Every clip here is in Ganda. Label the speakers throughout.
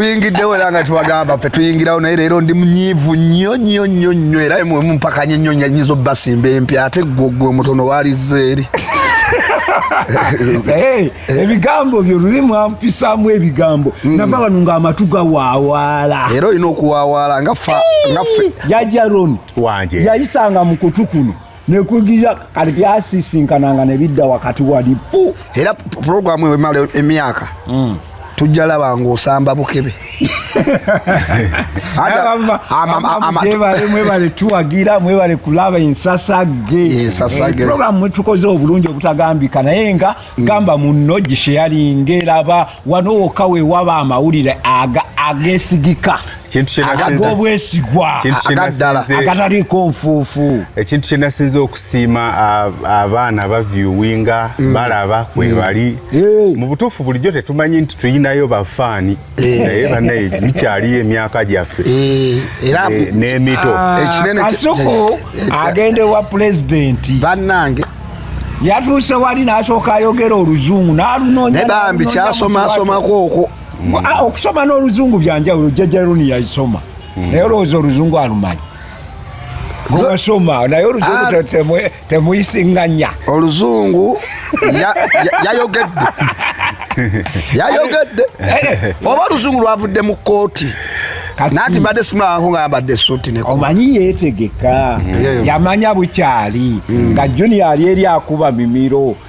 Speaker 1: tuyingiddewo era nga tubagamba fe tuyingirawo naye leero ndi munyiivu nnyo nnyo nnyo nnyo era mumpakanye nnyo nyanyinza obbasimba empya ate gwogwe omutono waliza eri eh,
Speaker 2: ebigambo byo luli mwampisaamu ebigambo hmm. nava wano ng'amatu gawawaala era olina okuwawaala
Speaker 1: nga jajja
Speaker 2: roni wanje yayisanga
Speaker 3: mu kutu
Speaker 2: kuno nekugira kati byasisinkananga nebidda wakati wali pu era
Speaker 1: puroguramu ewemala emyaka mm. tujja laba ng'osamba bukebe
Speaker 2: mwebale tuwagira mwebale kulaba ensasage ensasage eh, programu mwetukoze obulungi obutagambika naye nga Mm. gamba munno gisheyalinge laba wano woka wewaba amawulire agesigika agobwesigwa agataliiko nfuufu ekintu kyenasinza
Speaker 3: okusiima abaana bavyuwinga mm. balaba kwebali mm. mu butuufu bulijjo tetumanyi nti tuyinayo bafaani Eh. naye banaye bikyaliyo emyaka gyaffe eh, eh, n'emito ah, kasuku
Speaker 2: agenda ewa pulezidenti bannange
Speaker 1: yatuuse
Speaker 2: wali n'asooka ayogera oluzungu n'alunoonya bambi
Speaker 1: kyasomasomako okwo ah, okusoma
Speaker 2: n'oluzungu byanjawulo jajaruni yayisoma hmm. naye olowooza oluzungu alumanyi gwewasoma naye oluzungu tetemwe temuyisinganya oluzungu
Speaker 1: yayogedde yayogedde eh. oba oluzungu lwavudde mu kooti nati mbadde simulabako nga yambadde esuuti ne omanyi yeetegeka
Speaker 2: mm. yamanya bukyali mm. nga junior ali eri akuba mimiro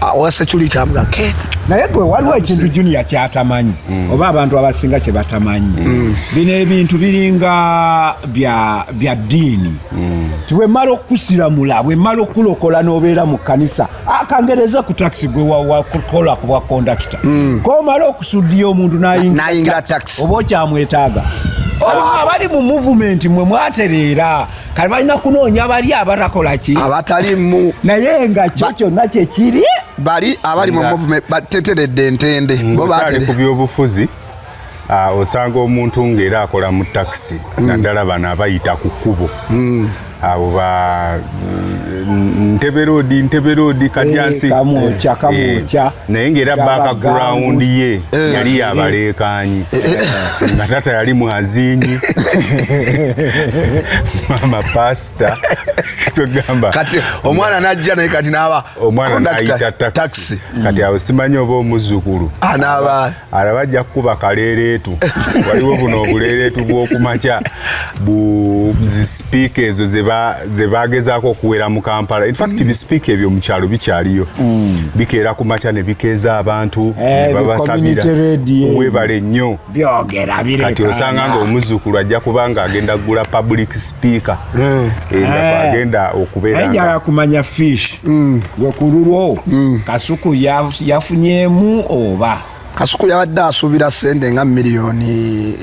Speaker 1: Ah, owa security amuga ke naye gwe waliwo
Speaker 2: ekintu junior kyatamanyi mm. oba abantu abasinga kye batamanyi mm. bino ebintu biringa bya bya ddiini mm. tiwemala okusiramula wemala okulokola n'obeera mu kkanisa akangereza ku takisi gwe wakola ku bwa kondakita mm. komala okusuddiya omuntu nayingira takisi oba
Speaker 1: okyamwetaaga
Speaker 2: abali mu muvumenti mwe mwatereera kale balina kunoonya bali abatakola ki abatalimu naye
Speaker 1: nga kyo
Speaker 2: kyonna kyekiri bali abali
Speaker 1: mu movement bateteredde entende mm, bo batere ku byobufuzi
Speaker 3: ah, osanga omuntu ng'era akola mu takisi mm. naddala bano abayita ku kkubo mm. abo ba nteberoodi nteberoodi kadyansi eh, kamokya kamokya eh, naye ngaera background ye eh. yali yabaleekanyi eh, eh. nga tata yali mwazinyi mama pasta togamba kati omwana
Speaker 1: najja naye kati naaba omwana nayita
Speaker 3: taxi kati awo simanyi oba omuzukulu anaaba ah, araba ajja kukuba kaleereetu waliwo buno obuleereetu bw'okumakya buzisipiika ezo ze bagezaako okuwera mu kampala infact mm. bisipiika ebyo mu kyalo bikyaliyo mm. bikeera ku makya ne bikeeza abantu eh, ne babasabira webale nnyo kati osanga nga omuzzukulu ajja kuba nga agenda kugula public speaker eh. eh, nga agenda okubeera kumanya
Speaker 2: fish mm. gwe ku lulwo mm. kasuku yafunyemu oba kasuku yabadde
Speaker 1: asuubira sente nga miliyoni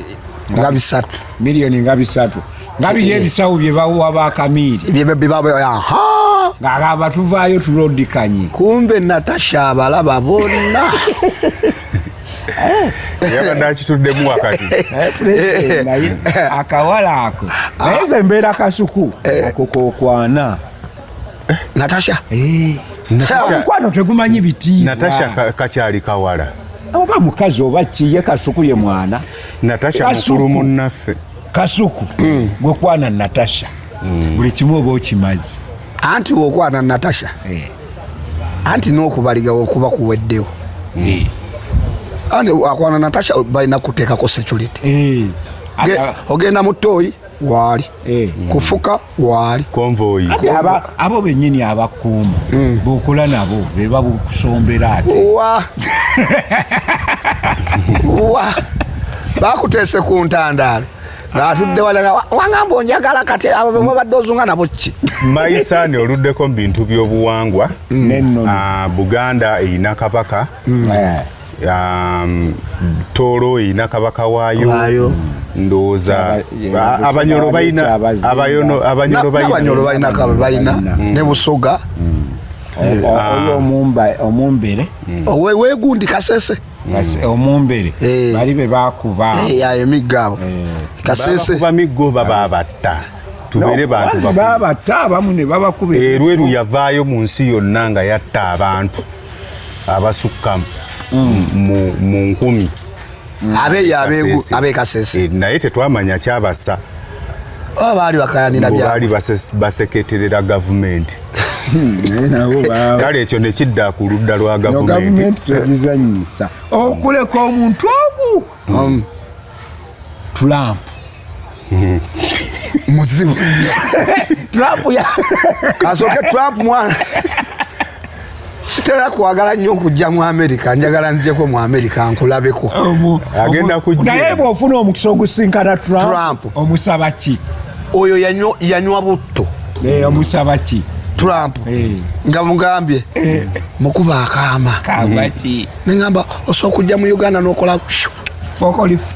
Speaker 1: nga bisatu miliyoni nga bisatu nga biri ebisawo bye bawa bakamiiri ng'aba tuvaayo tulodikanye kumbe natasha abalaba bonna
Speaker 3: yabadde akituddemu wakati eh,
Speaker 2: akawala ako naye ze mbeera kasuku eh. ako kokwana
Speaker 1: natasha
Speaker 2: eh. omukwano tegumanyi biti natasha kakyali
Speaker 3: kawala oba mukazi
Speaker 2: oba kiye kasuku ye mwana natasha mukulu
Speaker 3: munnaffe kasuku mm.
Speaker 2: gwekwana natasha mm. buli kimu oba okimazi anti wokwana
Speaker 1: natasha eh. anti nokubaligawo okuba kuweddewo eh. anti akwana natasha balina kuteekako security ogenda mu toyi waali kufuka waali konvoyi
Speaker 3: abo
Speaker 2: benyini abakuuma hmm. bokola nabo beba bukusombera ate wa wa
Speaker 1: bakutese ku ntandaalo ngaatudde walaga wangamba onjagala kati abo bemubadde ozunga nabo ki mayisaani
Speaker 3: oluddeko mu bintu by'obuwangwa hmm. ah, buganda erina kabaka hmm. eh. um, tooro erina kabaka waayo ndowooza abanyolo balina
Speaker 1: abanyolo balina balina
Speaker 3: mm. ne
Speaker 1: busoga mm.
Speaker 2: eh, oyo ah. omumbere mm. wegundi
Speaker 1: kasese omumbere
Speaker 2: eh. bali be bakuba eh, emiggo abo
Speaker 1: kasese bakuba miggo
Speaker 3: bababatta tubere bantu babatta abamu
Speaker 2: ne babakuba erweru yavaayo
Speaker 3: mu nsi yonna nga yatta abantu abasukka mm. mu nkumi mm. abeeyo
Speaker 1: abekasese eh, naye tetwamanya
Speaker 3: kyabasa oba
Speaker 1: baali bakayanira baali
Speaker 3: baseketerera gavumenti kale ekyo nekidda ku ludda lwa gavumenti tezizanyisa
Speaker 2: okuleka omuntu omu um, tulampu
Speaker 1: muzimu Trump
Speaker 2: ya kasoke
Speaker 1: Trump mwana sitera kwagala nnyo okujja mu amerika njagala njeko mu amerika nkulabeko agenda
Speaker 3: kujnaye bwofuna omukisa
Speaker 2: ogusinkana trump omusaba ki oyo
Speaker 1: yanywa butto eh, omusaba
Speaker 2: ki trump eh.
Speaker 1: nga mugambye eh. mukuba akaama
Speaker 2: nengamba osobola
Speaker 1: okujja mu uganda nokola fokolift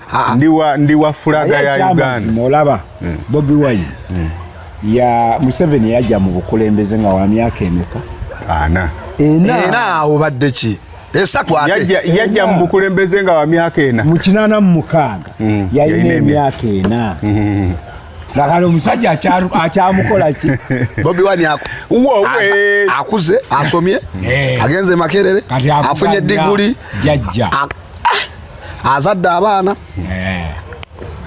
Speaker 1: ndiwa
Speaker 3: ndiwa fulaga ya Uganda molaba mm.
Speaker 2: Bobi Wine mm. ya Museveni yaja mu bukulembeze nga wa myaka emeka ana ena
Speaker 1: ena obadde ki esatu ate yaja yaja mu bukulembeze
Speaker 3: nga wa myaka ena mu kinana mu mukaaga
Speaker 2: mm. ya ina myaka ena mm -hmm. ngakale omusajja akyamukola ki bobi wani
Speaker 1: akuze asomye eh. agenze makerere afunye diguli ah, azadde abaana eh.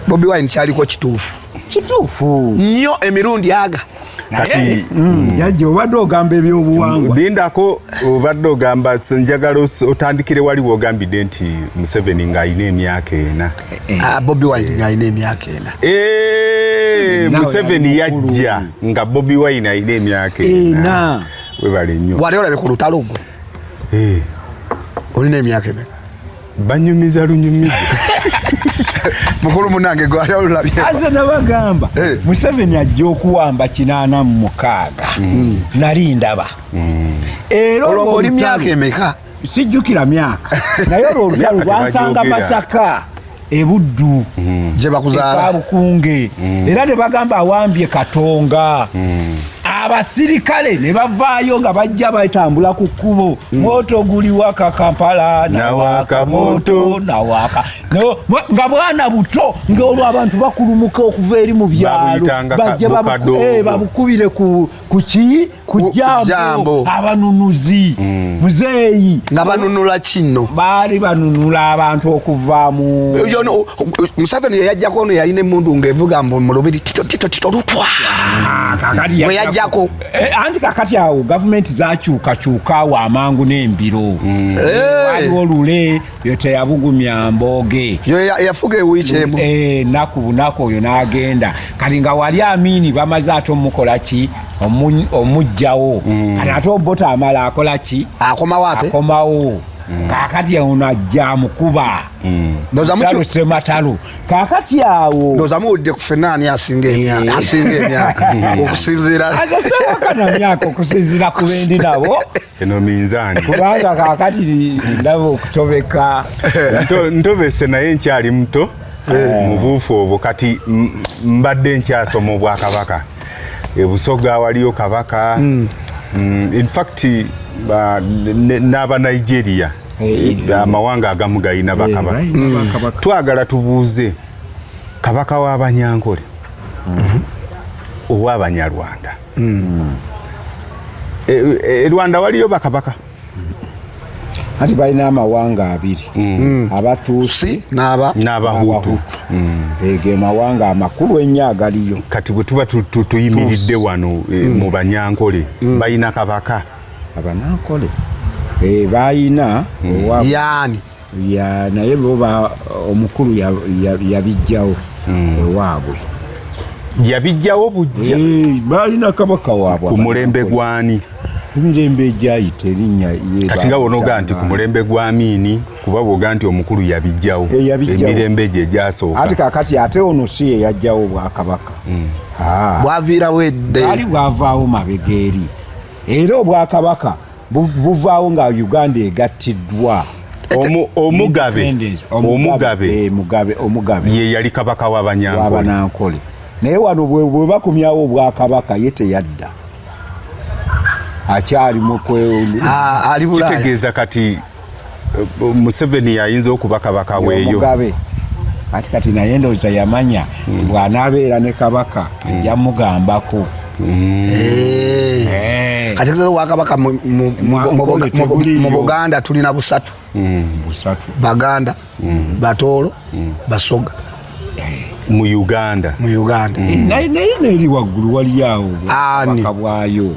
Speaker 1: Bobi Wine kyaliko kituufu kituufu nnyo emirundi aga kati
Speaker 3: mm. jajja
Speaker 2: obadde ogamba ebyobuwangwa lindako
Speaker 3: obadde ogamba njagala otandikire wali wogambidde nti museveni ng'alina emyaka ena eh. ah, bobi wine
Speaker 1: ng'alina emyaka ena eh, museveni
Speaker 3: yajja nga bobi wine alina emyaka ena webale nnyo wali olabe ku lutalo gwo
Speaker 1: olina emyaka emeka banyumiza
Speaker 3: lunyumiza
Speaker 1: mukulu munange gwayalulabyeaze nabagamba
Speaker 2: eh. museveni ajja okuwamba kinana mu mukaaga hmm. nali ndaba hmm. era olwo oli myaka
Speaker 1: emeka sijjukira myaka
Speaker 2: naye olwo olutalo lwansanga masaka ebuddu mm. gyebakuzaala
Speaker 1: bukunge
Speaker 2: mm. era nebagamba awambye katonga mm. abasirikale ne bavaayo nga bajja batambula ku kkubo moto guli waka kampala nawaka moto nawaka nga bwana buto ngaolwo abantu bakulumuka okuva eri mu byalo bajja babukubire ku kuki kujambo abanunuzi mm. muzeeyi nga banunula
Speaker 1: kino baali banunula
Speaker 2: abantu okuvaamu museveni
Speaker 1: yeyajjako ono yalina emundu ngaevuga mbu mulubiri titotito lutwa mweyajjako ah, eh, anti kakati
Speaker 2: awo gavumenti zakyukakyuka awo amangu n'embiro mm. eh. waliwo lule yo teyabugumya mboge yafuga ewiiki
Speaker 1: emu eh, naku bunaku
Speaker 2: oyo n'agenda kati nga wali amiini bamaze ate omukola ki omugjawo mm. kati ate obota amala akola ki akomawo ate akomawo mm. kakati ono ajja amukuba mm. sematalo kakati awo ndoza muwulidde ku fenna
Speaker 1: ani asinga emyaka asinga emyaka okusinziira azasewakanamyaka
Speaker 2: okusinziira ku bendi nabo eno minzaani
Speaker 3: kubanga kakati
Speaker 2: ndaba okutobeka
Speaker 3: ntobese naye nkyali muto eh. mubuufu obwo kati mbadde nkyasoma obwakabaka ebusoga waliyo kabaka hmm. mm, infact n'aba nigeria eh, eh, amawanga agamu galina bakabaka hmm. twagala tubuuze kabaka w'abanyankole hmm. ow'abanyarwanda mm. e, e, e Rwanda waliyo bakabaka
Speaker 2: ati balina amawanga abiri mm. abatuusi n'abahutu
Speaker 3: mm.
Speaker 2: ege mawanga amakulu ennyo agaliyo kati bwe tuba
Speaker 3: tuyimiridde wano e, mm. mu banyankole mm. balina kabaka abanankole
Speaker 2: e, balina mm.
Speaker 1: yani ya naye
Speaker 2: lwoba omukulu yabijjawo hmm. ewaabwe yabijjawo
Speaker 3: bujja eh,
Speaker 2: balina
Speaker 3: kabaka waabwe ku mulembe
Speaker 2: gwani kumirembe egyayita erinnya kati nga bonoga nti ku
Speaker 3: mulembe gwa miini kuba bwoga nti omukulu yabijjawo eh, emirembe egyo egyasooka ati kakati ate ono
Speaker 2: si ye yajjawo obwakabaka hmm. ah.
Speaker 1: bwaviirawo edde ali bwavaawo
Speaker 2: mabega eri era obwakabaka buvaawo nga uganda egattiddwa omugabe eh, ye yali kabaka
Speaker 3: wabanankole naye wano
Speaker 2: bwe bakumyawo obwakabaka ye teyadda akyali mukitegeeza
Speaker 3: kati museveni yayinza okuba kabaka weeyo kati
Speaker 2: kati naye ndowooza yamanya hmm. bw'anaabeera ne kabaka hmm. ajja mugambako hmm. eh. eh.
Speaker 1: kati kizaza wakabaka mu buganda tulina busatu baganda batoolo basoga eh.
Speaker 3: mu uganda mu uganda naye
Speaker 2: neeri waggulu waliyo awo bwakabwayo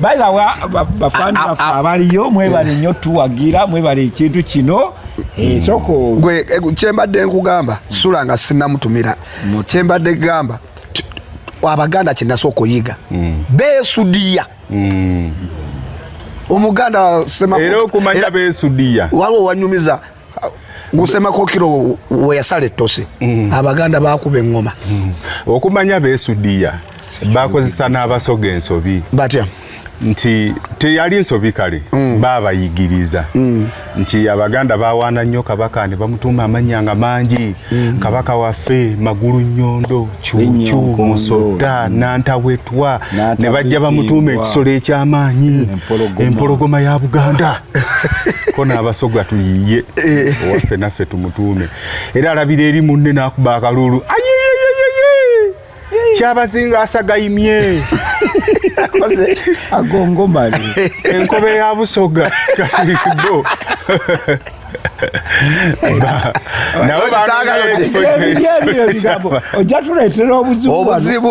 Speaker 2: By the way, bafani ah, ah, bafa ah. abaliyo mwebale nnyo tuwagira mwebale ekintu kino esoko eh, gwe eh,
Speaker 1: kyembadde nkugamba sula nga sinamutumira kyembadde gamba abaganda kyenasa okuyiga hmm. besudiya hmm. omuganda era okumanya
Speaker 3: besudiya waliwo wanyumiza
Speaker 1: gusema kokiro weyasala ettose mm. abaganda bakuba eŋŋoma mm. okumanya
Speaker 3: besudiya bakozesa n'abasoga ensobi batya
Speaker 1: nti
Speaker 3: teyali nsobi kale mm. baabayigiriza mm. nti abaganda bawaana nnyo kabaka ne bamutuuma amannya nga mangi mm. kabaka waffe magulu nyondo cucu musota mm. nantawetwa ne bajja bamutuuma ekisolo eky'amaanyi empologoma ya buganda ko n'abasoga tuyiye eh. owaffe naffe tumutuume era alabira eri munne n'akuba akalulu kyabazinga asagaimye
Speaker 2: agongomale enkobe ya
Speaker 3: busoga kalibo ojja
Speaker 2: tuleetera obuzibu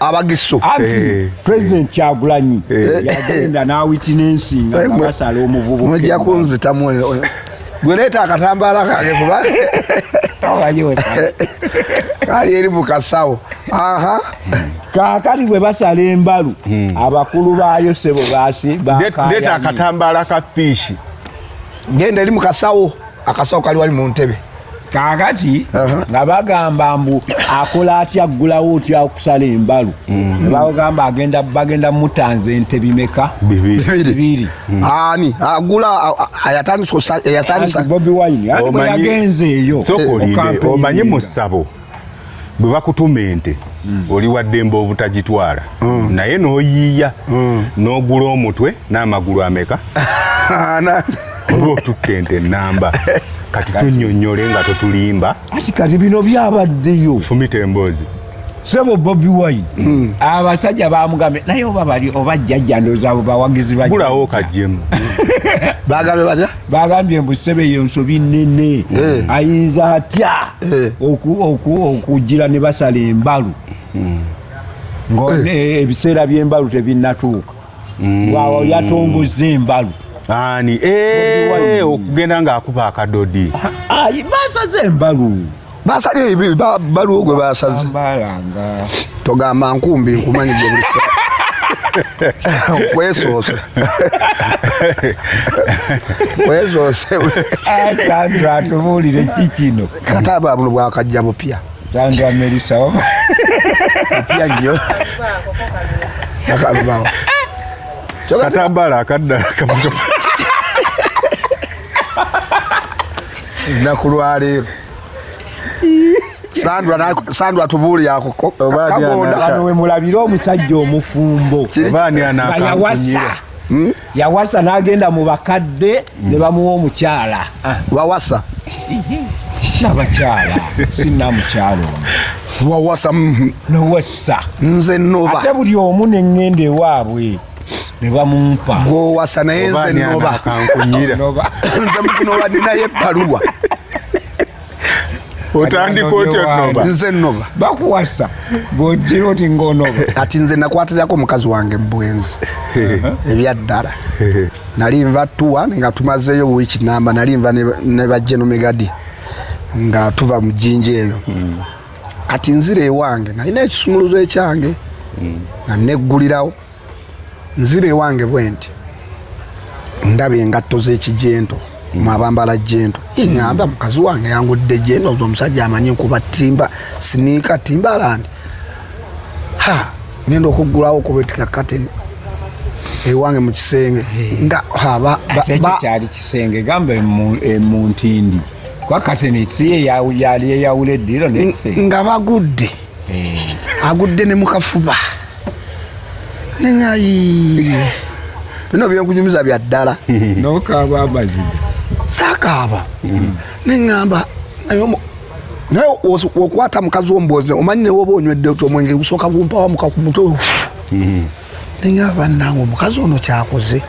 Speaker 1: abagisu anti eh. president
Speaker 2: kyagulanyi eh. eh. yagenda nawitinensi nga basala omuvubuka mujja kunzitamu
Speaker 1: gweleeta akatambaala kange kuba kali eri mukasawo aha
Speaker 2: kakati bwe basala embalu hmm. abakulu baayo sebo basi leeta
Speaker 3: akatambaala ka fiishi ngenda
Speaker 1: eri mukasawo akasawo kali wali mu ntebe kakati
Speaker 2: nga bagamba mbu akola atya aggulawo otya okusala embalu mm. bagamba agenda bagenda mutanza ente bimeka bibiri mm. ani
Speaker 1: agula ayatandisa bobi wine
Speaker 2: ati bwe yagenze eyo omanye
Speaker 3: musabo bwe bakutuma ente mm. oli waddembe obutagitwala mm. naye n'oyiiya mm. n'ogula omutwe n'amagulu ameka oba otukka ente ennamba kati tunyonyole nga totulimba ati kati bino
Speaker 2: byabaddeyo fumita emboozi
Speaker 3: sebo bobi
Speaker 2: wine mm. abasajja bamugambe naye oba bali oba jjajja ndoozaabo bawagizi bagulawo kajjemu
Speaker 3: bagambe
Speaker 1: bata bagambye mbu ssebe
Speaker 2: eyo nsobi nnene eh. ayinza atya eh. okujjira ne basala embalu hmm. nga eh. ebiseera by'embalu tebinnatuuka hmm. waawo yatongoza embalu ani
Speaker 3: okugenda ng'akuba akadodi basaze
Speaker 2: embalu basabye ebi
Speaker 1: baluwo gwe basaze togamba nkumbi nkumanyi gye buli kwesoose kwesoose sandra
Speaker 2: atubuulire ki kino kata babuno
Speaker 1: bwakajja bupya sandra melisa
Speaker 2: bupya
Speaker 1: nnyo akalubawo
Speaker 3: katambala akaddala kamukafa
Speaker 1: nakulwaleero Sandra Sandra tubuli yako kagonda kano we
Speaker 2: mulabira omusajja omufumbo obani
Speaker 3: anakawasa hmm? yawasa
Speaker 2: nagenda mu bakadde ne bamuwa omukyala ah. wawasa
Speaker 1: nabakyala
Speaker 2: sinamukyalo wawasa
Speaker 1: mm-hmm. nowasa
Speaker 2: nze noba
Speaker 1: ate buli omu neŋŋenda
Speaker 2: ewaabwe ne bamumpa gwowasa naye
Speaker 1: nze noba nze mukunoba ninayo ebbaluwa
Speaker 3: otandika otya noba nze noba
Speaker 1: bakuwasa
Speaker 2: gojira oti ngonoba kati nze nakwatirako
Speaker 1: mukazi wange mubwenzi ebyaddala nali nva tuwa nga tumazeeyo wiiki namba nali nva ne bajjenomegadi nga tuva mu jjinja eyo hmm. kati nzira ewange nalina ekisumuluzo ekyange mm. nga neggulirawo nzira ewange bwe nti ndaba engatto z'ekijento mm. mwabambala jento inyamba mm. mukazi wange yangudde jento ozo omusajja amanyi nkuba timba siniika timbalandi ha ngenda okuggulawo okubetika kateni ewange mu kisenge nga
Speaker 2: kyali kisenge gamba emuntindi nga bagudde
Speaker 1: eh. agudde ne mukafuba nenyayi bino byenkunyumiza bya ddala nokaaba
Speaker 2: amazima sakaaba
Speaker 1: hmm. neŋamba naye okwata mukazi omboze omanyi newoba onywedde ti omwenge gusooka gumpawamuka ku mutwe hmm. neŋamba nange omukazi ono kyakoze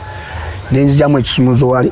Speaker 1: nenzijamu ekisumuzo wali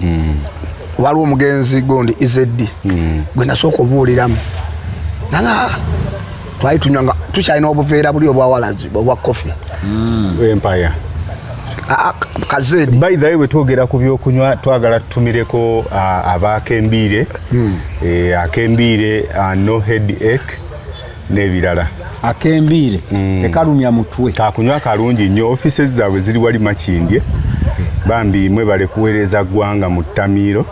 Speaker 1: mm. waliwo omugenzi gundi izeddi mm. gwe nasooka obuuliramu nanga twali tunywa nga tukyalina obuveera buli obwawalazi obwa kofi mm. empaya kazedi by the way
Speaker 3: wetwogera ku byokunywa twagala tutumireko abaakembiire hmm. eh, akembiire uh, no head ake n'ebirala akembiire
Speaker 2: mm. tekalumya mutwe kakunywa kalungi nnyo
Speaker 3: offices zaabwe ziri wali makindye bambi mwe bale kuweereza ggwanga mu ttamiiro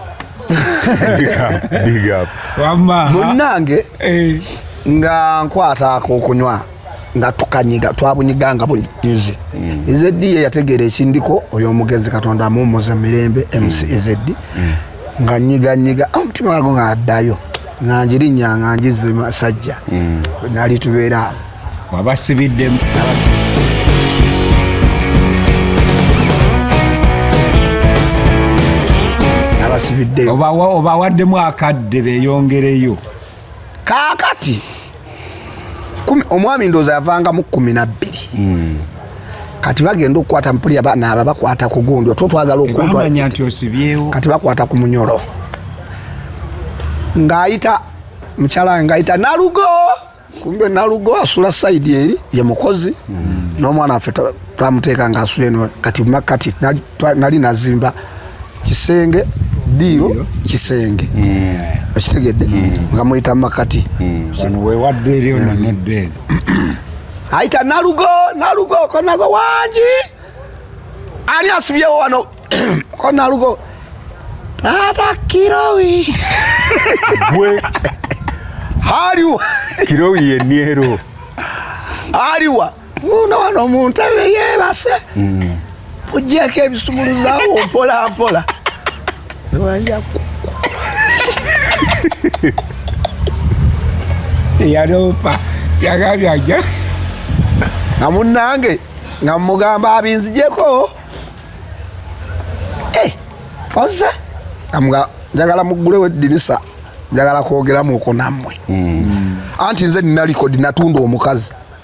Speaker 3: munnange
Speaker 1: eh. nga nkwata akokunywa nga tukanyiga twabunyiga nga bunyize mm. ezeddi ye yategeera ekindiko oyo omugenzi katonda amuwumuze mirembe mc mm. ezeddi nga nyiga nyiga ah, omutima wago nga addayo nga njirinya nga njize masajja mm. nali tubeera wabasibiddemu abasibiddeyo obawaddemu
Speaker 2: akadde beyongereyo kaakati
Speaker 1: omwami ndoozi avangamu kumi nabbiri hmm. kati bagenda okukwata mpulira banaaba bakwata ku gundi otwo twagala okunkati
Speaker 2: bakwata ku munyolo
Speaker 1: ng'ayita mukyala ng'ayita nalugo kumbe nalugo asula saidi eri ye mukozi hmm. n'omwana waffe twamuteeka nga asula eno kati mumakati nali nazimba kisenge diiro kisenge hmm. okitegedde hmm. nga muyita mumakati hmm. wewadde
Speaker 2: eri ono nodde
Speaker 1: ayita nalugo nalugo konago wangi ani asibyewo wano konalugo tata kirowi
Speaker 3: gwe
Speaker 1: haliwa kirowi
Speaker 3: yeniero
Speaker 1: aliwa uno wano mu ntebe yeebase mujjeko ebisumuluzawo mpolampola
Speaker 2: yaloopa yagambye ajja
Speaker 1: nga munnange nga mugamba abinzijeko eh, oze njagala muggulewo eddirisa njagala kwogeramu oko nammwe hmm. anti nze nina likodi natunda omukazi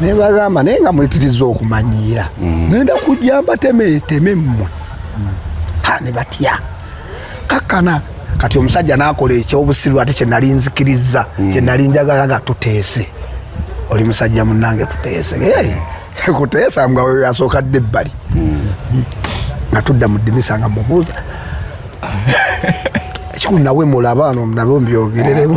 Speaker 1: naye bagamba naye nga mwetiriza okumanyiira mm. genda kujja mbateme teme mmwe ha ne batya kakkana kati omusajja nakola ekyobusiru ate kyenali nzikiriza mm. kyenali njagala nga tuteese oli musajja munange tuteese kuteesa nga weyo yasooka dde ebbali mm. nga tudda mu dinisa nga mubuuza ekikulu nawe mulaba no nabe ombyogereremu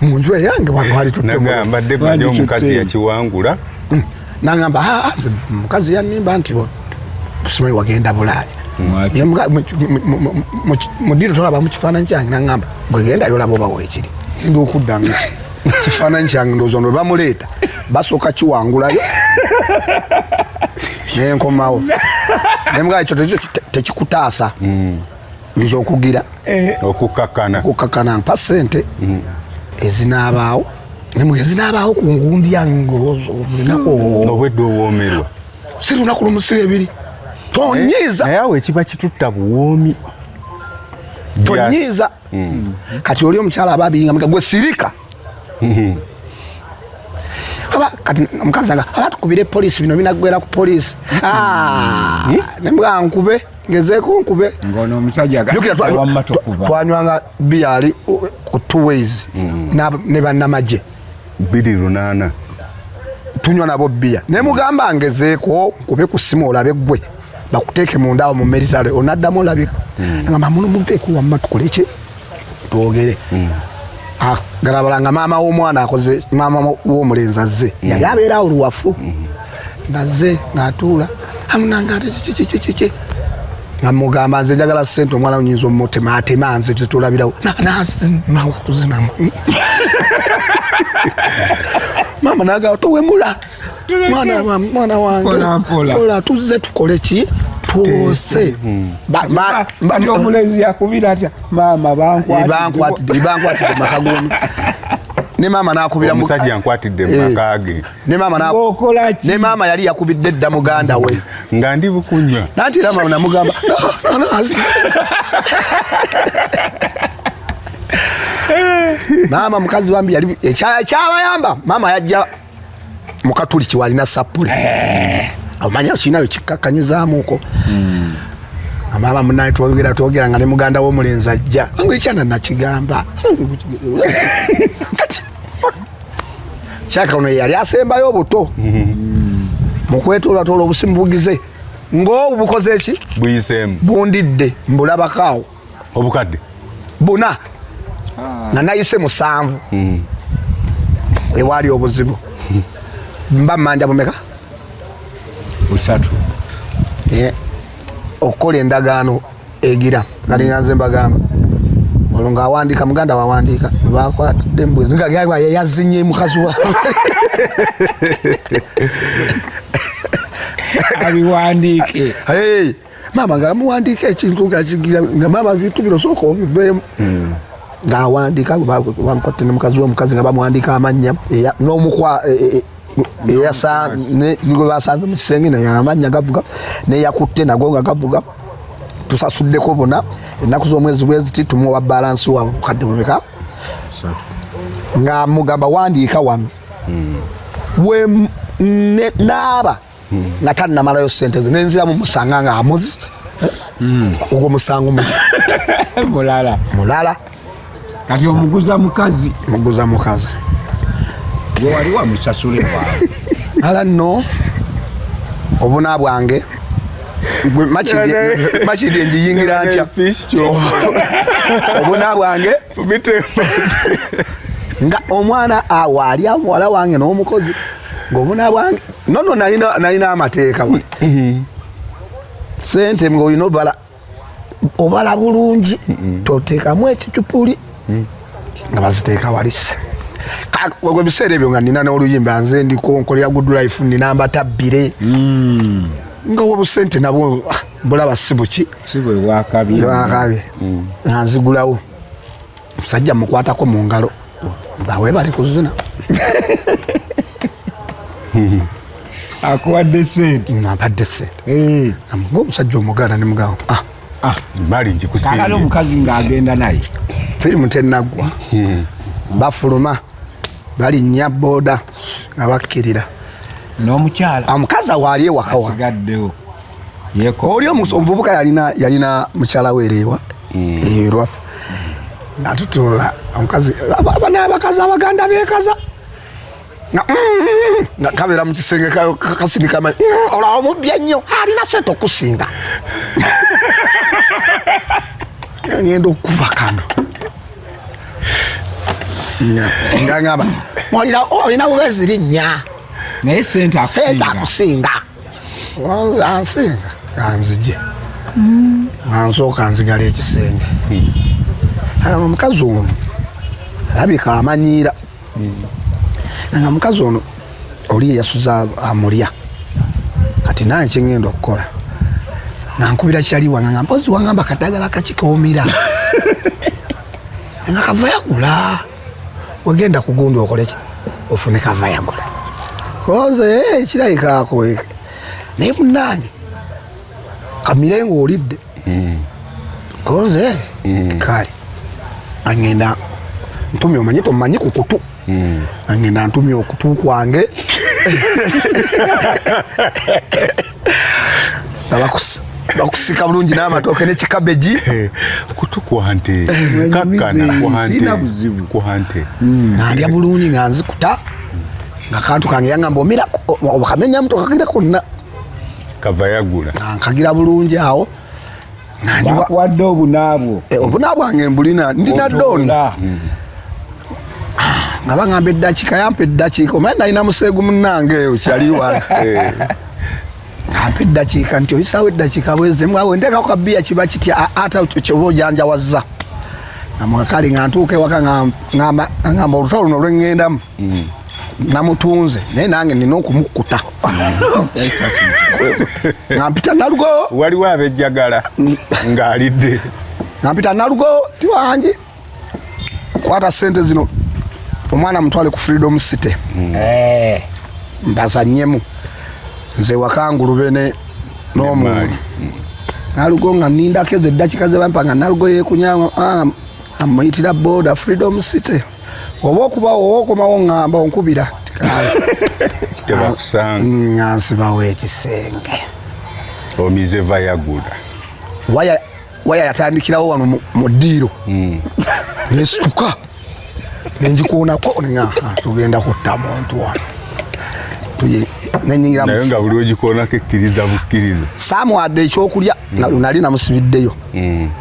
Speaker 1: mu nju eyange wano wali tuttegamba debade
Speaker 3: omukazi yakiwangula hmm. nangamba
Speaker 1: ah, ah, mukazi yanimba nti simanyi wagenda bulaaya mudiro tolaba mukifaananyi kyange nangamba bwegendayo olaba oba wekiri enda okudda nga kifaananyi kyange ndowooza no webamuleeta basooka kiwangulayo nenkomawo nemugala ekyo tekikutaasa hmm. nze okugira eh. okukakana okukakana mpa sente mm. ezinaabaawo nemwe ezinaabaawo ku ngundya ngaolunaku mm.
Speaker 3: obwedde owoomerwa si lunaku
Speaker 1: lumusiba ebiri tonyiiza eh, naye awo ekiba
Speaker 3: kitutta buwoomi tonyiiza
Speaker 1: mm. kati oli omukyala aba abiyinga mutagwe sirika aba kati omukazi aga aba tukubire polisi bino binagwera ku polisi hmm. nembwa nkube ngezeeko nkube ngono omusajja twanywanga biyali ku two ways hmm. ne bannamagye biri lunaana tunywa nabo biya naye mugamba ngezeeko nkube ku simu olabe gwe bakuteeke mundawo mu meritale onaddamu olabika hmm. agamba muno muveeko wamma tukoleki twogere mm. ah, galabala nga maama w'omwana akoze maama w'omulenzi azze mm. yali abeera awo luwafu mm. ngazze ng'atuula amunanga ate kikikikiki nga mugamba nze njagala sente omwana unyinza omutema atema nze tetulabirawo nazinawa kuzinamu maama nagawa towemula mwana wange pola tuzze tukole ki twose
Speaker 2: omulezi yakubira atya maama
Speaker 1: bankwatidde makagumi ne maama nakubira omusajja nkwatidde
Speaker 3: eh. makage ne maama na okola
Speaker 1: ki ne maama yali yakubidde dda muganda we nga ndi bukunywa
Speaker 3: nati era maama namugamba
Speaker 1: maama mukazi wambi yali eh, kyabayamba maama yajja mukatuliki walina sappule eh. omanya okirinayo kikkakkanyizamuuko hmm. amaaba munaye twogera twogera nga ne muganda womulenzi ajja angu ekyana nakigamba kati kyaka ono yeyali asembayo obuto hmm. mukwetoolatoola obusimu bugize ngaobubukoze eki buyisemu bundidde mbulabakaawo obukadde
Speaker 3: buna ah.
Speaker 1: nga nayise musanvu hmm. ewaali obuzibu mba manja bumeka
Speaker 2: busatu eh,
Speaker 1: okukola endagaano egira nalinga nze mbagamba olwo ngaawandiika muganda wawandiika nebakwatidde mbuzi nga yazinye mukazi wa
Speaker 2: abiwandiike
Speaker 1: maama nga amuwandiika ekintu ngakigira nga maama bintu bino sooka obiveemu hmm. ng'awandiika bamukotte ne mukazi womukazi nga bamuwandiika amannya n'omukwa e, e, e, gwe basanze mu kisenge naye amannya gavuga neyakutte nago nga gavuga tusasuddeko bona ennaku z'omwezi bweziti tumuwa balansi wa bukadde bumeka nga mugamba wandiika wano hmm. we naaba hmm. nga tannamalayo sente ze nenziramu musanga nga amuzi hmm. ogwo musango muki mulala mulala kati
Speaker 2: omuguza mukazi muguza mukazi wewali wamusasule ala no
Speaker 1: obuna bwange makidi enjiyingira ntya obuna bwange nga omwana awaali awala wange n'omukozi ngobuna bwange nono nalina nalina amateeka we sente nga olina obala obala bulungi totekamu ekicupuli mm. nga baziteeka walise ogwo biseera ebyo nga nina n'oluyimba nze ndiko nkolera good life nina mbatabbire mm. nga wobusente nabwo ah, bulaba sibuki sibwewakabye
Speaker 2: mm.
Speaker 1: nanzigulawo musajja mukwatako mu ngalo nga webale kuzina
Speaker 2: akuwadde sente napadde sente
Speaker 1: eh. nga omusajja omuganda nemugamba ah. ah, bali
Speaker 3: njikusakale omukazi ngaagenda
Speaker 2: naye firimu tenaggwa
Speaker 1: hmm. bafuluma balinnya boda nga bakkirira n'omukyala
Speaker 2: omukazi awaali
Speaker 1: ewakawa oli omuvubuka yalina yalina mukyala wereewa mm. eh, lwafu natutoola omukazi abana abakazi abaganda bekaza nga mm, kabeera mu kisenge kasinikama mm, olaba omubbya nnyo alina sente okusinga ngenda okukuba kano ngangamba olina bubezi linnya naye
Speaker 2: sente akusinga
Speaker 1: ansinga kanzije nga nsooka nzigala ekisenge hmm. omukazi ono alabika amanyiira hmm. nga omukazi ono oli eyasuza amulya kati naye kyengenda okukola nankubira kyali wanga nga mpozi wangamba kadagala kakikoomira nga kavayagula wegenda kugundu okoleki ofune kavayagula koze eh, kirabikaako naye munange kamire nga olidde hmm. koze eh, hmm. kale agenda ntumye omanyi tomanyi ku kutu hmm. agenda ntumye okutu kwange bakusika bulungi n'amatooke ne kikabeji kutu
Speaker 3: kwante kakkana kwante mm. nalya
Speaker 1: bulungi nga nzikuta nga kantu kange yangamba omira okamenyamu tokagira konna kava
Speaker 3: yagula nkagira
Speaker 1: bulungi awo
Speaker 2: wadde obunaabwo eh, obuna bwange mbulina
Speaker 1: ndina don mm. ah, nga baŋamba eddakiika yampa eddakiika omaye nalina museegu munange eyo kyali wala eh. ampa eddakiika nti oyisawo eddakiika bwezemu awo ntekako kabiya kiba kitya ata kyoba ojanjawazza nga mwakali nga ntuuka ewaka ngamba olutalo luno lweŋŋendamu mm. namutunze naye nange nina okumukkuta nampita nalugo waliwo abejjagala
Speaker 3: ng'alidde nampita
Speaker 1: nalugo ti wangi kwata sente zino omwana mutwale ku freedom city mm. eh. mbazanyemu nze wakangulube ne n'omuntu nalugo nga nindako ezo eddakika zebampa nga nalugo yekunya ah, amuyitira boda freedom city oba okuba oba okomawo ngamba onkubira tebakusanga
Speaker 3: ngansibawo
Speaker 1: ekisenge
Speaker 3: omize vayagula waya
Speaker 1: waya yatandikirawo wano mu ddiiro hmm. nesituka nenjikuunako nga tugenda kutta muntu wano
Speaker 3: naye nga buli ogikoonako ekkiriza bukkiriza saamuwadde ekyokulya
Speaker 1: hmm. nali namusibiddeyo hmm.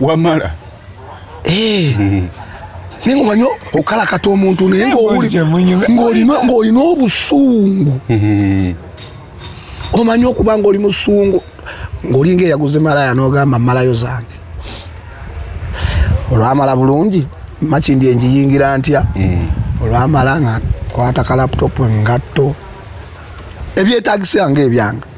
Speaker 1: wamala
Speaker 3: eh
Speaker 1: mm. naye ngaomanyi okalakata omuntu naye ng'olina obusungu mm-hmm. omanyi okuba ngaoli musungu ng'olinga eyaguze malaya n'ogamba malayo zange olwamala bulungi makindi enjiyingira ntya mm. olwamala nga kwata ka laputopu engatto ebyetagisa nga ebyanga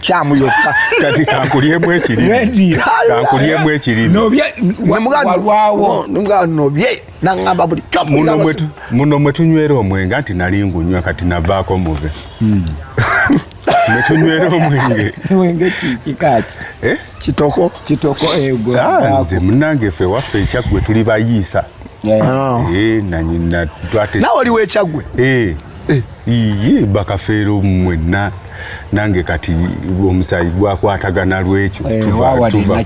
Speaker 1: kyamu yokka kati kankulyemu
Speaker 3: ekiriri kankulyemu ekiriri
Speaker 1: nobye nangamba buli muno
Speaker 3: mwe tunywera omwenge anti nali ngunywa kati navaako muve hmm. mwe tunywera omwenge eh?
Speaker 1: kitoko eh, ah,
Speaker 3: nze munange fe waffe ekyaggwe tuli bayiisa ah. eh, nawe oliwo ekyaggwe iye bakafeero mwenna nange kati omusayi gwakwatagana lwekyo eh, tuva tuva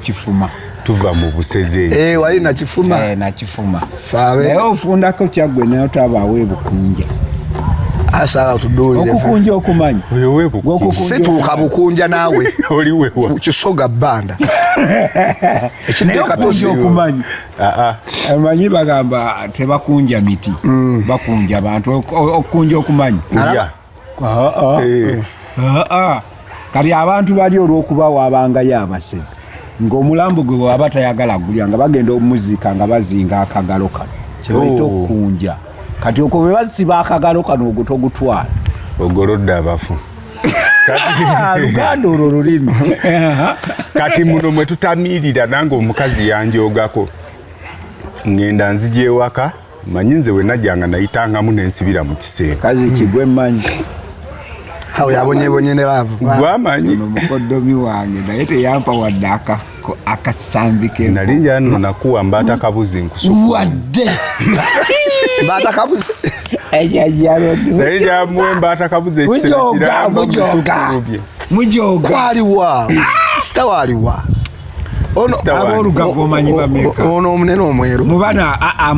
Speaker 3: tuva mu buseze eh, wali nakifuma
Speaker 1: eh, nakifuma
Speaker 2: naye
Speaker 1: ofundako
Speaker 2: kyaggwe naye otabaawo ebukunja
Speaker 1: asala tuduulire okukunja okumanya
Speaker 3: situuka bukunja
Speaker 1: naawe kisoga
Speaker 3: bbanda
Speaker 2: ekidde katosi okumanya amanyi bagamba tebakunja miti mm. bakunja abantu okukunja okumanyi eh. kati abantu bali olwokuba wabangayo abasezi ngaomulambo gwe bwaba tayagala gulya nga bagenda omuzika nga bazinga akagalo kano kyebaita oh. okukunja kati okwo bwe basiba akagalo kano ogwo togutwala ogolodde
Speaker 3: abafu ah, luganda
Speaker 2: olwo lulimi
Speaker 3: kati muno mwe tutamiirira nange omukazi yanjogako ngenda nzija ewaka manyi nze wenajjanga nayitangamu nensibira mu kiseera kazi kigwe manyi
Speaker 1: awo yabonyebonye ne laavu gwamanyi
Speaker 3: mukoddomi
Speaker 2: wange naye teyampa waddaka akasambi ke nali njano
Speaker 3: nakuwa mbata kabuzi nkusuku wadde
Speaker 1: mbata kabuzi naye
Speaker 3: njamuwe mbata kabuzi ekisera
Speaker 2: kiramba musukuubye
Speaker 1: mujoga kwaliwa sita
Speaker 2: waliwa ono omunene omweru
Speaker 1: mubana aa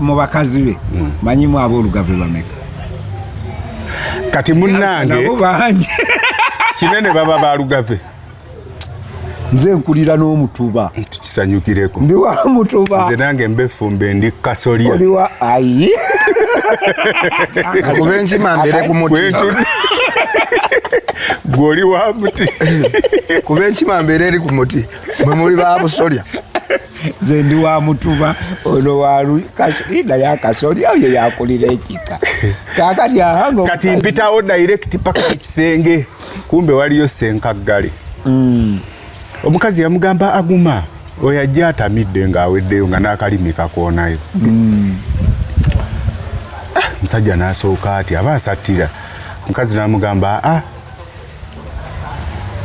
Speaker 2: mubakazi be mm. manyimu abolugave bameka
Speaker 3: kati munange
Speaker 2: kinene
Speaker 3: baba balugave
Speaker 2: nze nkulira n'omutuba tukisanyukireko
Speaker 3: ndi wa mutuba
Speaker 2: nze nange mbefumbe
Speaker 3: ndi kasolya oli wa ayi
Speaker 1: kuba enkima mbere ku muti
Speaker 3: gwe oli wa muti kuba
Speaker 1: enkima mbere eri ku muti mwe muli ba busolya nze
Speaker 2: ndi wa mutuba ono walunaye akasoli awo ye yakulira ekika kakati ahango kati mpitawo
Speaker 3: direct paka ekisenge kumbe waliyo senkaggale mm. omukazi yamugamba aguma oyo ajja atamidde ng'aweddeyo nga n'akalimi kakoonayo mm. ah, musajja n'asooka ati aba asattira omukazi n'amugamba a ah,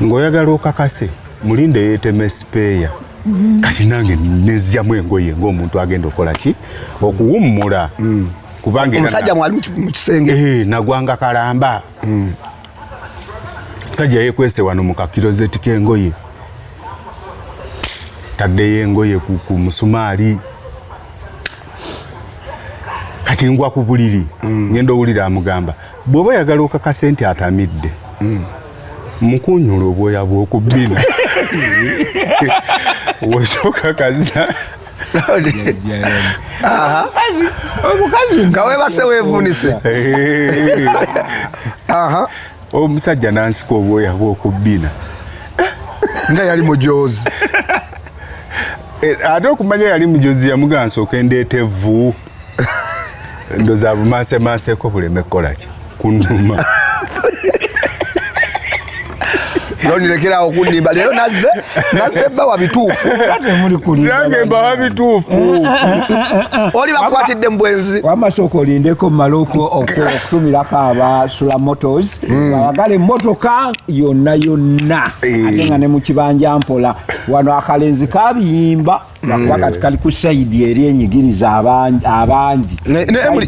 Speaker 3: ng'oyagala okakase mulinde yeeteme sipeeya mm-hmm. kati nange nezjamu engoye ng'omuntu agenda okukola ki okuwummula mm. kubanga omusajja mwali
Speaker 1: mu kisenge eh, nagwanga kalamba
Speaker 3: mm. sajja yekwese wano mu kakirozeti k'engoye taddeyo engoye ku musumaali kati ngwa ku buliri mm. ngenda owulira amugamba bw'oba oyagala okakase nti atamidde hmm. mukunyula obwoya bw'oku bbina wosokakaza
Speaker 1: omukazi nga webase wevunise
Speaker 3: omusajja nansika obwoya bw'oku bbina
Speaker 1: nga yali mujozi
Speaker 3: Eh, ate okumanya yali mujozi yamugansa okendeta evvu ndoza bumansemanseko buleme kukolaki kunuma
Speaker 1: nonilekerawo okunimba leero naze naze bawa bituufu nange
Speaker 3: mbawa bituufu mm, mm, mm,
Speaker 1: oli bakwatidde mubwenzi wamasooka olindeko
Speaker 2: mumale okutumirako aba sula motos ayagala emotoka yonna yonna eh. ate nga ne mukibanja mpola wano akalenzi kabiyimba lwakuba kati kali ku sayidi eri enyigiriza abangi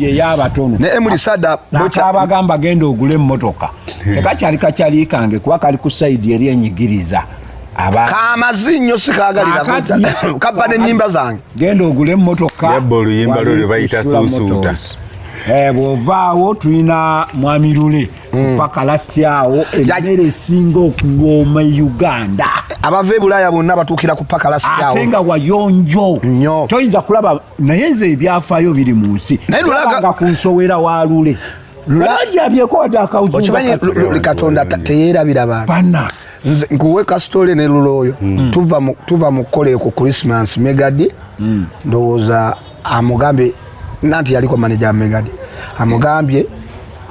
Speaker 2: eyabatono naye muli sada
Speaker 1: nakabagamba genda
Speaker 2: ogule emmotoka tekakyali kakyali kange kuba kali ku sayidi eri enyigiriza kamazi
Speaker 1: nnyo sikaagalira kabba n'ennyimba zange genda ogule emmotoka
Speaker 2: yabba oluyimba lwe lwe
Speaker 3: bayita suusuuta eh,
Speaker 2: bw'ovaawo tulina mwami lule mm. paka lasti awo emmere esinga okuwooma e uganda abava ebulaaya
Speaker 1: bonna batuukira ku paka lasti awo ate nga wayonjo
Speaker 2: nyo toyinza kulaba naye nze ebyafaayo biri mu nsi naye lulaga ku nsowera wa lule katonda
Speaker 1: teyerabira bantu nkuwe kasitole ne lulooyo mm. tuva mu kukola eko christmas megadi mm. ndowooza amugambye nanti yaliko maneja megadi amugambye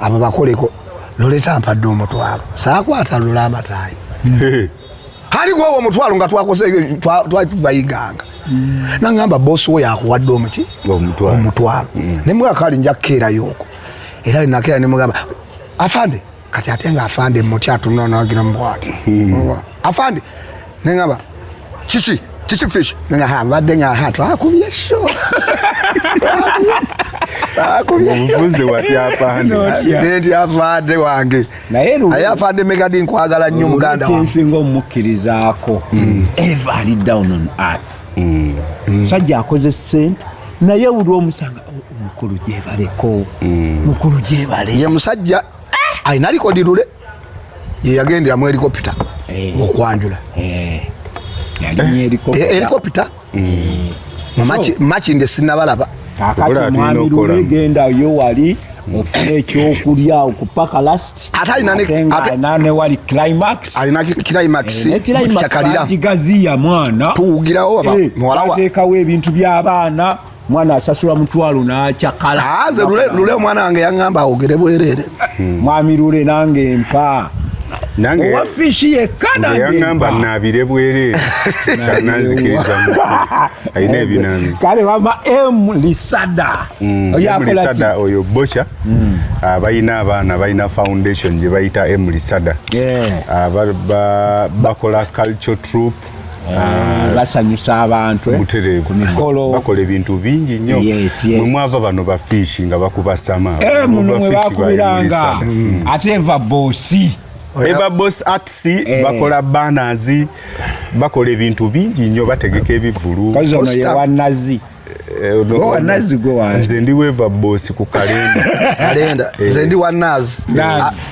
Speaker 1: abo bakoleko loleta mpadde omutwalo sakwata lula amatayi aligwawo omutwalo nga twakoze twali tuvayiganga mm. nangamba bosi wo yakuwadde omuki omutwalo mm. nemwakali nja kukeerayo oko era nakera nemugamba afande kati ate nga afande muti atunula nagira mubwati hmm. afande nengaba kiki kiki fish nenga ha mbadde nga ha twakubye sho
Speaker 3: omuvuzi wati afande nti
Speaker 1: afande wange aye afande megadi nkwagala nnyo muganda wansinga omumukkirizaako
Speaker 2: hmm. eva ali down on earth hmm. Hmm. sajja akoze sente naye buli omusanga oh, omukulu gyebaleko mukulu gyebale ye musajja
Speaker 1: Ai nali ko dilule. Ye yagendera mu helicopter. Eh. Okwanjula. Eh. Yali mu helicopter. Eh, helicopter. Mm. Mamachi machi nge sinabalaba. Akati mwami
Speaker 2: lule genda yo wali. ofuna ekyokulya okupaka last ate alina newali climax alina climax
Speaker 1: eh, kyakalira
Speaker 2: kigaziya mwana tuwugirawo eh,
Speaker 1: muwalawa atekawo ebintu byabaana
Speaker 2: mwana asasula mutwalo nakyakala ah, nze lule omwana
Speaker 1: wange yaŋamba awogere bwerere hmm. mwami lule
Speaker 2: nange mpa owa
Speaker 3: fishi yekka
Speaker 2: nangeyaŋamba nabire
Speaker 3: bwerere nanzikirizamu alina ebinambi kale wama
Speaker 2: m lisada hmm,
Speaker 3: lisada oyo boca hmm. ah, balina abaana balina foundation gye bayita m lisada ah, bakola culture troop Eh,
Speaker 2: basanyusa abantu eh, ku mikolo
Speaker 3: bakola ebintu bingi nnyo mwe mwava bano bafiishi nga bakubasama eh, muno mwe
Speaker 2: bakubiranga mm. ate eva bosi eva bosi arts bakola banazi bakola ebintu bingi nnyo bategeka ebivulu kazi ono yewanazi eh, nze
Speaker 3: ndi weva bosi ku kalenda kalenda eh. nze ndi wa
Speaker 1: naz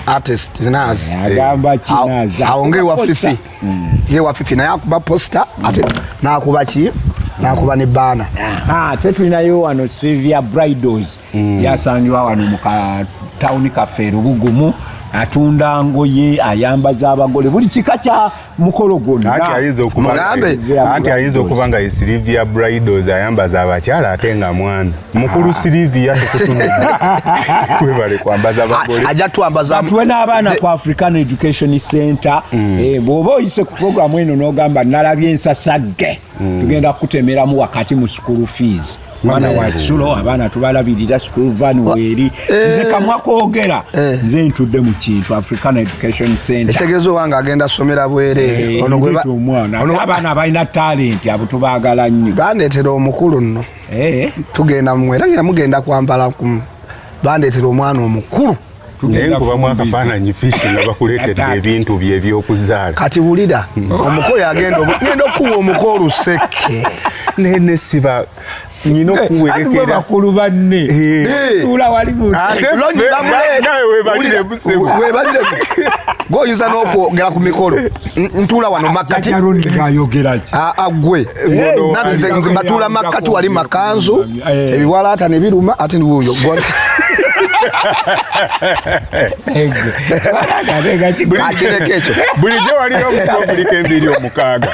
Speaker 1: artist naz eh, agamba ki
Speaker 2: naz aonge wa fifi
Speaker 1: mm. ye wa fifi naye akuba poster ate mm. nakuba ki nakuba ne baana ah, te tulinayo
Speaker 2: wano silvia bridals mm. yasangiwa wano mu katawuni kaffe erubugumu atunda ngoye ayambaza abagole buli kika kya mukolo gwonna anti ayinza okuba mugambe
Speaker 3: anti ayinza okuba nga Sylvia Bridals ayambaza abakyala ate nga mwana mukulu ah. Sylvia tukutumira kwebale kwambaza abagole ajja twambaza tuwe
Speaker 1: n'abaana ku
Speaker 2: African Education Center mm. eh, bw'oba oyise ku programu eno n'ogamba nalabye ensasagge mm. tugenda kukutemeramu wakati mu school fees mwana wa kisulo abaana tubalabirira school van weeri eh. nze kamwa kwogera eh. nze ntudde mu kintu african education center ekitegeeza owange agenda
Speaker 1: somera bwereere eh, omwana
Speaker 2: abaana balina talenti abo tubagala nnyo bandeetera omukulu
Speaker 1: nno tugenda mumwera ngira mugenda kwambala kumu bandeetera omwana omukulu naye nkubamu
Speaker 3: akafaananyi fiisi nga bakuleetedde ebintu bye ebyokuzaala kati wulira hmm.
Speaker 1: omuko yagenda genda okuwa omuko oluseke naye nesiba
Speaker 3: nyina eh, okuwerekera bakulu banne
Speaker 2: eh. Eh. tula wali munawe
Speaker 3: webalire busebo webalire
Speaker 1: goyuza n'okwogera ku mikolo ntula wano makkati agwe nati batula makkati wali makanzu eh. ebiwalaata ne biruma ate niwuyo akireka ekyo bulijjo
Speaker 3: waliyo omukombulika embiri omukaaga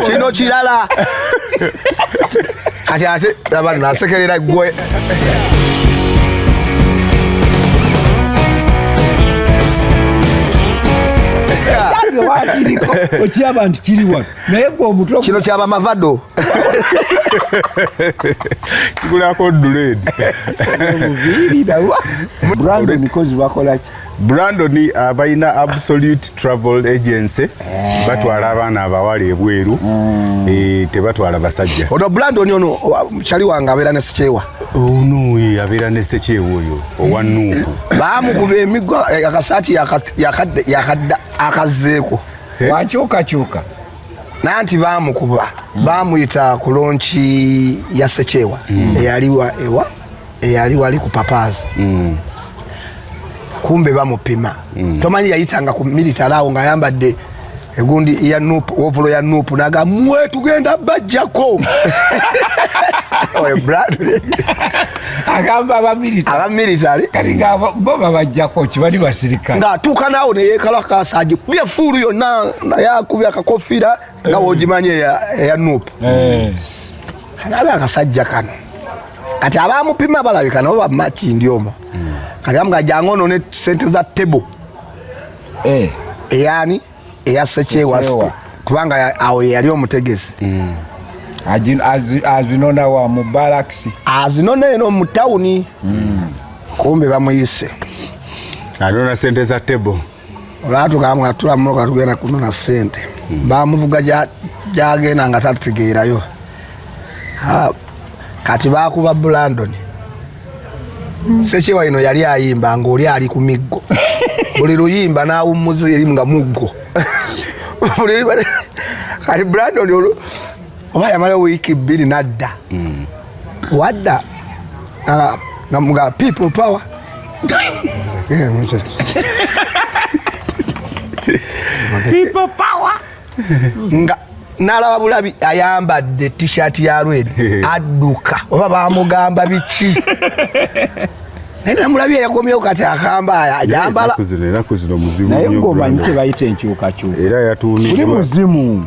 Speaker 1: kino kirala kati ate laba nasekerera gwe
Speaker 2: okiraba nti kiri wano naye gwe omutwe kino kyaba mavado
Speaker 3: kigulako duled
Speaker 2: brandon kozi bakolaki Brandon
Speaker 3: abalina uh, absolute travel agency eh. batwala abaana abawala ebweru hmm. eh, tebatwala basajja ono Brandon ono
Speaker 1: chali wange abeera ne sikyewa ono eh,
Speaker 3: abeera ne sikyewa oyo owa nuuku baamukuba emiggo
Speaker 1: akasaati yakadda akazzeeko wakyukakyuka
Speaker 2: naye
Speaker 1: nti baamukuba hmm. baamuyita ku lonki ya sikyewa hmm. eyaliwa ewa eyali wali ku papaazi mm. kumbe bamupima mm. tomanyi yayitanga ku military awo ng'ayambadde egundi ya nup ovulo ya nup naga mwe tugenda bajjako oyo bradley
Speaker 2: agamba abamiritary
Speaker 1: kati nga bo
Speaker 2: babajjako kibali basirikale ng'atuuka naawo
Speaker 1: neyekalakasa agi byefuulu yonna naye akubya akakofiira nga wogimanyi eya nup eh. kanabe akasajja kano kati abamupima balabika nabo bamakindi omo hmm. kati amuga jangu ono ne sente za table eh. eyani eya sekyewa kubanga awo yali omutegesi hmm.
Speaker 2: azinona wa mu balakisi azinona eno
Speaker 1: mu tawuni hmm. kumbe bamuyise
Speaker 3: anona sente za table olwatugambu
Speaker 1: nga tula mumoka tugenda kunona sente hmm. bamuvuga gyagenda nga tatutegeerayo kati bakuba bulandoni hmm. sekyewa ino yali ayimba ngaoli ali ku miggo buli luyimba nawummuza erimu nga muggo kati bulandoni oba yamala wiiki bbiri nadda mm. wadda ah, nga mga people power
Speaker 2: people power nga
Speaker 1: nalaba bulabi ayambadde t-shirt ya rwed adduka oba bamugamba biki naye namulabi eyakomyewo kati akamba ajambala naye
Speaker 3: ngomanyi kyebayita
Speaker 2: enkyukakyuka era yatunduli
Speaker 3: muzimu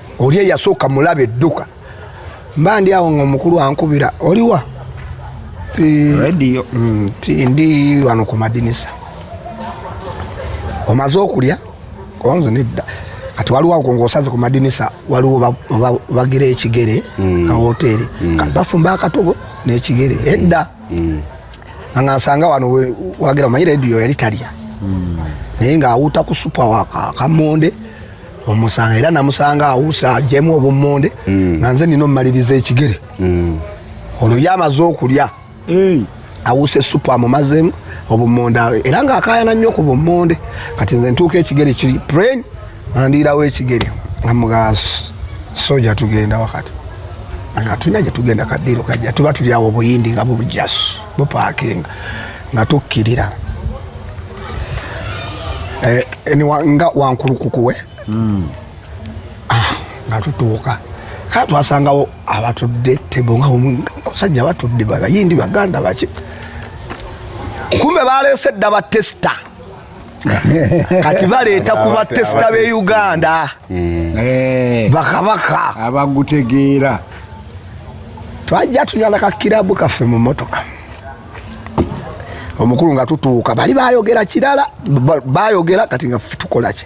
Speaker 1: oli eyasooka mulabe dduka mba ndi awo nga omukulu ankubira oliwa mm,
Speaker 2: ti ndi
Speaker 1: wano ku madinisa omaze okulya onze nedda kati waliwo ako ngaosaze ku madinisa waliwo bagira ekigere mm. ka woteeri mm. bafumba akatogo n'ekigere edda nga nsanga wano wagira omanyi rediyo yali talya naye ng'awuuta ku supa wakamonde omusanga era namusanga awusa ajemu obummonde mm. nga nze nina omumaliriza ekigere mm. ono byamaze okulya awuse supu amumazemu obummonde era nga akayana nnyo ku bummonde kati nze ntuuka ekigere kiri pren andiirawo ekigere amuga soja tugenda wakati tulina gyetugenda kadiiro kajja tuba tulyawo obuyindi nga bubujasu bupaakinga nga tukkirira eh, nga wankulukukuwe hmm. ah, nga tutuuka kaa twasangawo abatudde tebo nga omusajja batudde bayindi baganda baki kumbe baleese dda batesita kati baleeta ku batesita be uganda hmm. eh. bakabaka abagutegeera twajja tunyala kakirabu kaffe mu motoka omukulu nga tutuuka bali bayogera kirala bayogera kati nga tukolaki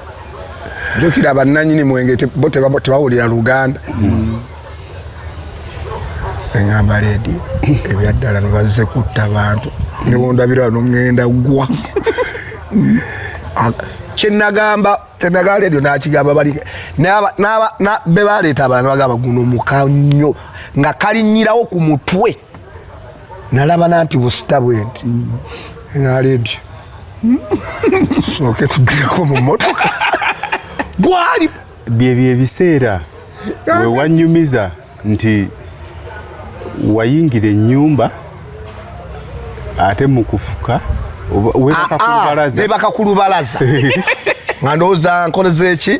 Speaker 1: jukira bannanyini mwenge bo tebawulira luganda mm. eŋamba leedi ebyaddala nibazze kutta bantu newondabira nogenda gwa kyenagamba kyenaga leedio nakigamba bali bebaleeta abana bagamba guno muka nnyo nga kalinyirawo ku mutwe nalaba nanti busita bwendi naledi soke tuddeko mu motoka gwali byebyo
Speaker 3: ebiseera wewanyumiza nti wayingira enyumba ate mukufuka webaka ah, ah,
Speaker 1: ku lubalaza nga ndowooza nkoleza eki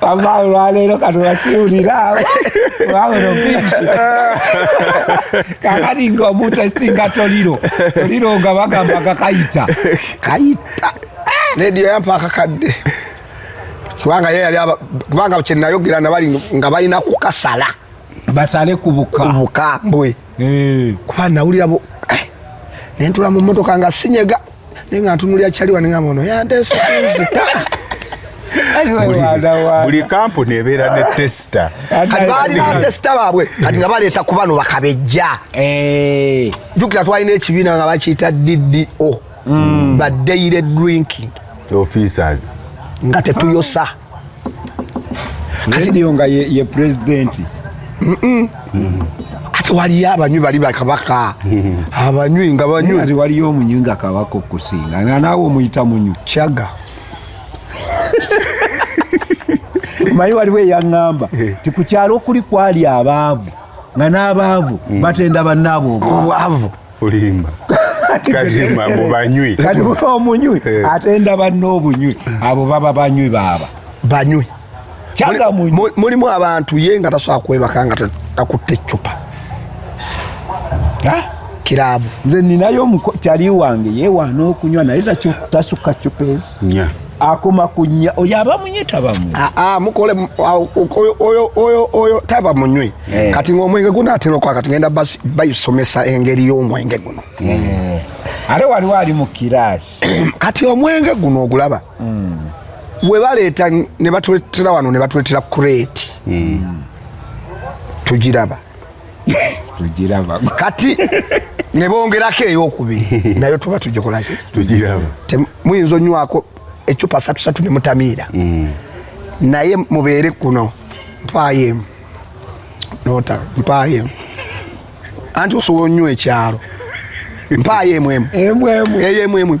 Speaker 2: ambayo lwaleero katulasiwulira wawero bingi kakati nga omutestinga toliro toliro nga bagamba kakayita kayita
Speaker 1: lediyo yampa akakadde kubanga ye yali kubanga kyenayogera nabali nga balina kukasala basale
Speaker 2: kubuka kubuka
Speaker 1: mbwe eh. kuba nawulira bu
Speaker 2: eh,
Speaker 1: nentula mu motoka nga sinyega naye nga ntunulira kyaliwa nengamba ono yanteesa kunzita
Speaker 3: buli kampuni ebeera ne tesita balina
Speaker 1: tesita baabwe kati nga baleeta ku bano bakabejja eh. jukira twalina ekibiina nga bakiyita ddo mm. ba daily drinking officers
Speaker 3: nga
Speaker 1: tetuyosa
Speaker 2: kati lyo nga ye, ye president mm -mm. Mm.
Speaker 1: ate waliyo abanywi bali bakabaka mm-hmm. abanywi nga banywi ate waliyo omunywi nga
Speaker 2: kabaka okusinga nga naawe omuyita munywi kyaga mayi waliwo eyaŋŋamba eh. ti ku kyalo okuli kwali abaavu nga n'abaavu mm. batenda bannaabwe obwavu
Speaker 1: olimba
Speaker 3: kalimba mbu banywi kati omunywi
Speaker 2: eh. ate ndaba n'obunywi abo baba banywi baaba banywi mulimu abantu ye
Speaker 1: nga tasobola kwebaka nga takutte eccupa kiraabu nze ninayo
Speaker 2: kyali wange yewaana okunywa naye tasukka cupa ezi nya akoma ku nya oyo aba munywe taba munywe ah, ah, mukole
Speaker 1: oyo taba munywe eh. kati ng'omwenge guno atera okwaka tugenda bayisomesa engeri y'omwenge guno eh.
Speaker 2: ate waliwo ali mu kiraasi kati omwenge
Speaker 1: guno ogulaba hmm. we baleeta ne batuletera wano ne batuletera kureeti hmm. tugiraba tugiraba kati ne bongerako eyokubiri nayo tuba tugikolaki tugiraba
Speaker 3: muyinza
Speaker 1: onywako ecupa satusatu ne mutamiira mm. naye mubeere kuno mpaayo emu nota mpaayo emu anti osobola onywa ekyalo mpaayo emu emu eyo emu emu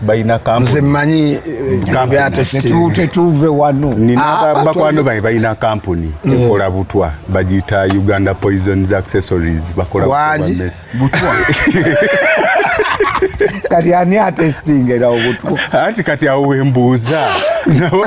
Speaker 3: balina kampuni manyi
Speaker 1: eh, tetuve wano
Speaker 2: nina ah, bakwano
Speaker 3: bange balina kampuni mm. ekola butwa bagiyita uganda poisons accessories bakola butwa
Speaker 2: kati ani atestinga era obutwa anti kati awo
Speaker 3: wembuuza nabo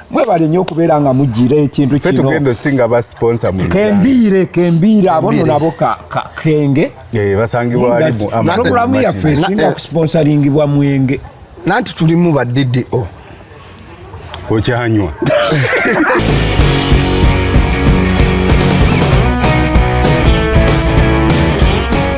Speaker 2: mwebale nyo okubeera nga mujjira ekintu kino tugenda osinga ba
Speaker 3: sponsor mu kembiire kembiire
Speaker 2: abo no nabo ka kenge eh basangibwa
Speaker 3: ali mu amazon programu ya face
Speaker 2: nga eh, kusponsoringibwa mwenge nanti tulimu
Speaker 1: ba DDO okyanywa